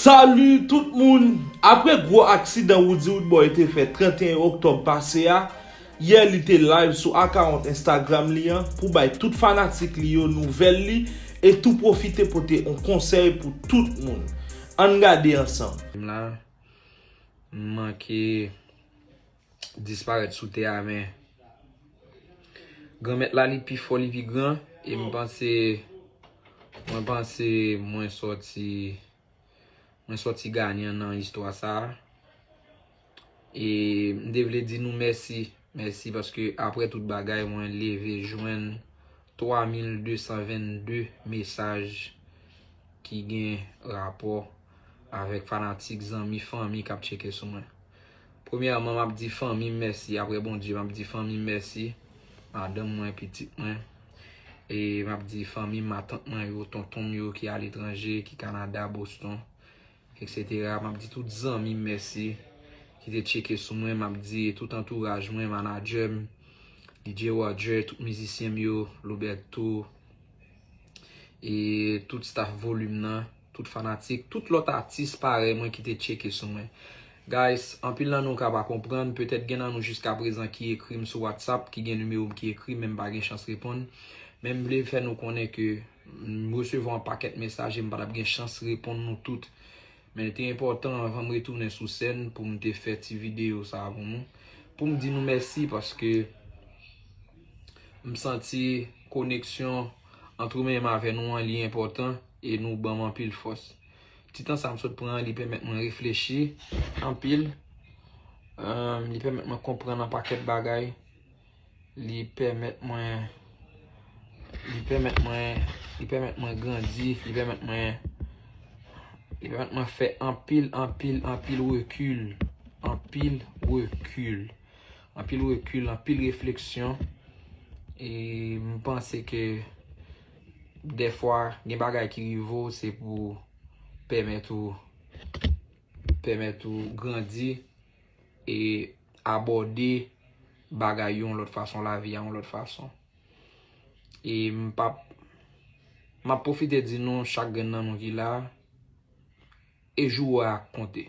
Salut tout moun! Apre gwo aksidan Roody Roodboy te fè 31 oktòb pase a, yè li te live sou akawont Instagram li an pou bay tout fanatik li yo nouvèl li e tou pwofite pote on konsèy pou tout moun. Ann gade ansanm. M la, m manke. disparèt sou tè a men Granmèt la li pi fò li pi gran e m panse mwen panse mwen sòti mwen sòti ganyan nan istwa sa a e m te vle di nou mèsi mèsi paske aprè tout bagay mwen leve jwenn 3222 mesaj ki gen rapò avèk fanatik zanmi fanmi k ap tcheke sou mwen. Premyèman map di fanmim mèsi aprè Bondye map di fanmim mèsi madanm mwen pitit mwen e map di fanmim matant mwen yo tontonm yo ki aletranje ki Canada Boston etc map di tout zanmim mèsi ki te tcheke sou mwen map di tout antouraj mwen manadjèm DJ Roger tout mizisyenm yo Loberto e tout staff volume nan. Tout fanatik, tout lòt atis parèy mwen ki te tcheke sou mwen. Guys, anpil nan nou ka pa konprann, petèt gen nan nou jiskaprezan ki ekri m sou WhatsApp, ki gen nimewo m ki ekri men m pa gen chans reponn. Men m vle fè nou konnen ke m resevwa yon pakèt mesaj e m pa t ap gen chans reponn nou tout. Men li te enpòtan anvan m retounen sou sèn pou m te fè ti videyo sa a pou nou. Pou m di nou mèsi paske m santi koneksyon antre mwen menm avè nou an li enpòtan. e nou ban m anpil fòs. Ti tan sa m sot pran an, li pèmèt mwen reflechi anpil, li pèmèt mwen konprann yon pakèt bagay, li pèmèt mwen, li pèmèt mwen, li pèmèt mwen grandi, li pèmèt mwen, li pèmèt mwen fè anpil, anpil, anpil rekil, anpil rekil, anpil rekil, anpil refleksyon, e m panse ke. Dèfwa gen bagay ki rive w se pou pèmèt ou pèmèt ou grandi e abòde bagay yon lòt fason, lavi a yon lòt fason. E m pa p m ap pwofite di nou chak grenn nan nou ki la a e jou ou a konte.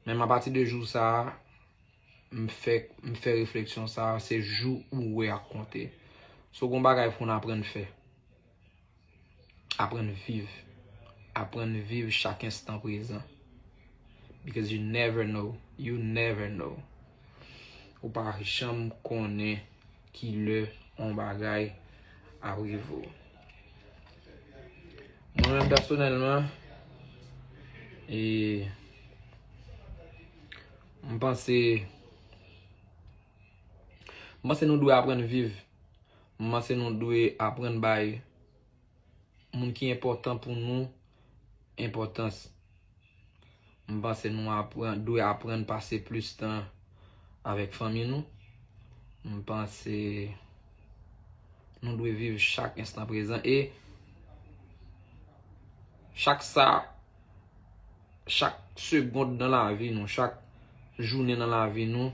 Menm apati de jou sa a M fèk m fè refleksyon sa a, se jou ou wè a k konte. So gon bagay pou n aprann fè. Aprann viv. Aprann viv chak enstan prezan. Because you never know. You never know. Ou pa janm konnen ki lè yon bagay ap rive w. Mwen menm pèsonèlman, e, M panse M panse nou dwe aprann viv. M panse nou dwe aprann bay moun ki enpòtan pou nou enpòtans. M panse nou aprann dwe aprann pase plis tan avèk fanmi nou. M panse nou dwe viv chak enstan prezan e chak sa. chak segond nan lavi nou, chak jounen nan lavi nou,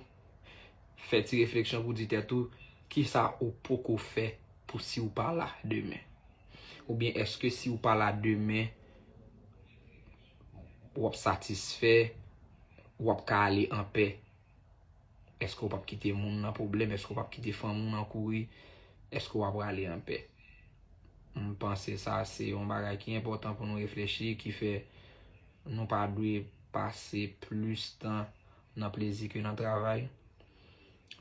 fè ti refleksyon pou di tèt ou, ki sa ou poko fè pou si ou pa la demen? Ou byen eske si ou pa la demen, wap satisfè, wap ka ale anpè Eske ou pap kite moun nan pwoblèm? Eske ou pap kite fanmi ou nan kouri? Eske wap rale anpè? M panse sa se yon bagay ki enpòtan pou nou reflechi ki fè nou pa dwe pase plis tan nan plezi ke nan travay.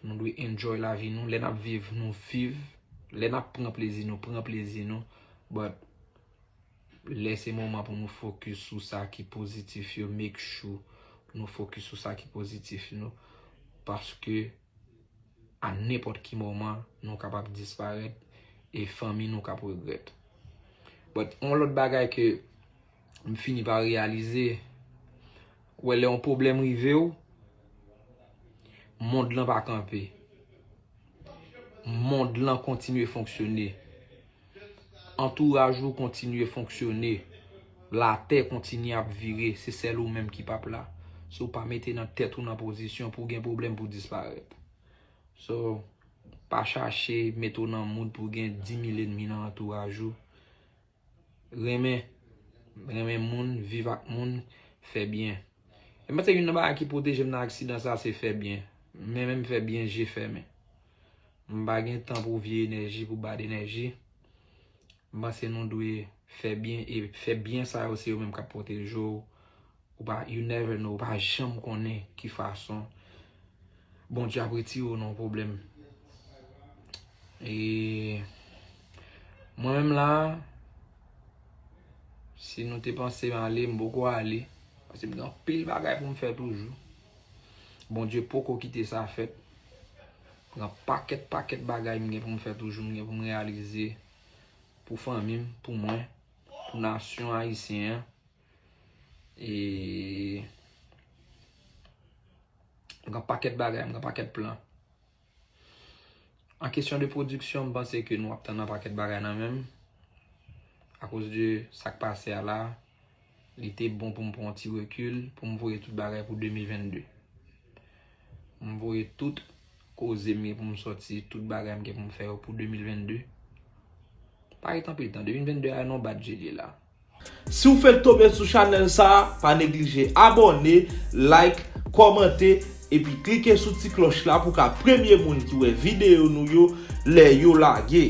Nou dwe enjoy lavi nou. Lè nap viv, nou viv. Lè nap pran plezi nou, pran plezi nou. But, Lè se moman pou nou fokis sou sa ki pozitif yo make sure nou fokis sou sa ki pozitif yo paske a nenpòt ki moman nou kapab disparèt e fanmi nou kap regrèt but yon lòt bagay ke m fini pa reyalize wè lè yon pwoblèm rive w mond lan pa kanpe mond lan kontinye fonksyone. Antouraj ou kontinye fonksyone, latè kontinye ap vire, se sèl ou menm ki pap la. Si ou pa mete nan tèt ou nan pozisyon pou gen pwoblèm pou disparèt. So, pa chache mete ou nan mood pou gen 10.000 enmi nan antouraj ou. Renmen, renmen moun, viv ak moun, fè byen. Mwen panse youn nan bagay ki pwoteje m nan aksidan sa se fè byen. Mwen menm fè byen je fèmen. M pa gen tan pou vye enèji, pou bad enèji. M panse nou dwe fè byen e fè byen sa yo se yo menm k ap pwoteje w. Ou pa, you never know, ou pa janm konnen ki fason Bondye ap retire w nan yon pwoblèm. E mwen menm la, si nou te panse m ale, m poko ale. Paske m gen anpil bagay pou m fè toujou. Bondye poko kite sa fèt. Nan pakèt pakèt bagay m gen pou m fè toujou, m gen pou m reyalize pou fanmi m, pou mwen, pou nasyon ayisyen an. E m gen pakèt bagay, m gen pakèt plan. An kesyon de pwodiksyon, m panse ke nou ap tann yon pakèt bagay nan men m. A koz de sa k pase a la, li te bon pou m pran yon ti rekil, pou m voye tout bagay pou 2022. M voye tout koze m gen pou m soti, tout bagay m gen pou m fè yo pou 2022. Pa ret anpil tan, 2022 a nan bat je li la. Si w fenk tonbe sou chanèl sa a, pa neglije abòne, like, kòmante, epi klike sou ti klòch la pou w ka premye moun ki wè videyo nou yo lè yo lage.